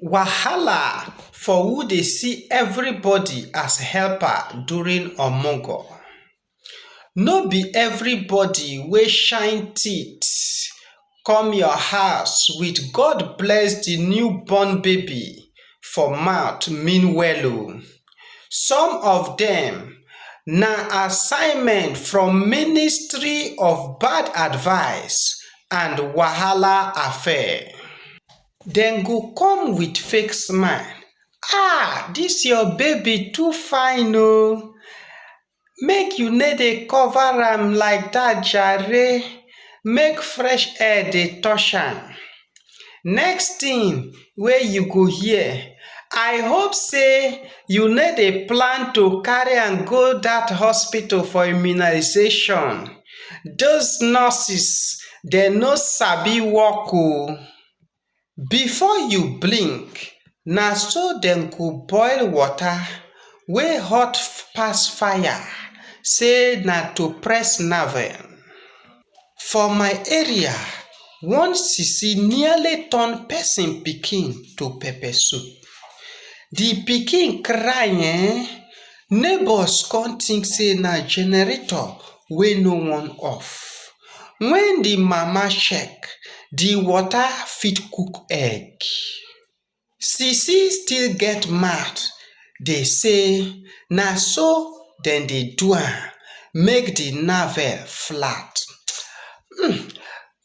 wahala for who dey see everybody as helper during omogo no be everybody wey shine teeth come your house with god bless the newborn baby for mouth mean well o some of dem na assignment from ministry of bad advice and wahala affair. Dem go come with fake smile, Ah, this your baby too fine oo, make you no dey cover am like that jare, make fresh air dey touch am. Next thing wey you go hear, I hope say you no dey plan to carry am go that hospital for immunization, those nurses dem no sabi work oo. before you blink na so dem go boil water wey hot pass fire say na to press nerve. for my area one sisi nearly turn person pikin to pepper soup the pikin cry um neighbours come think say na generator wey no wan off when the mama check the water fit cook egg sisi still get mouth dey say na so dem dey do am make the navel flat um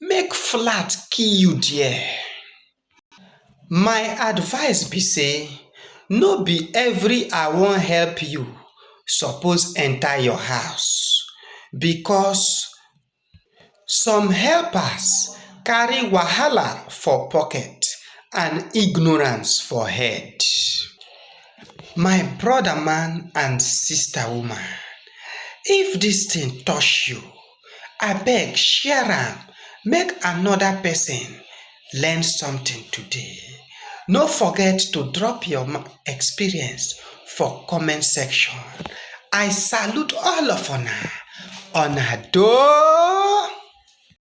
make flat kill you there My advice be sey no be every I wan help you suppose enter your house because some helpers carry wahala for pocket and ignorance for head. My brother man and sister woman if dis thing touch you Abeg share am make another person learn something today. No forget to drop your experience for comment section. I salute all of una. Una do.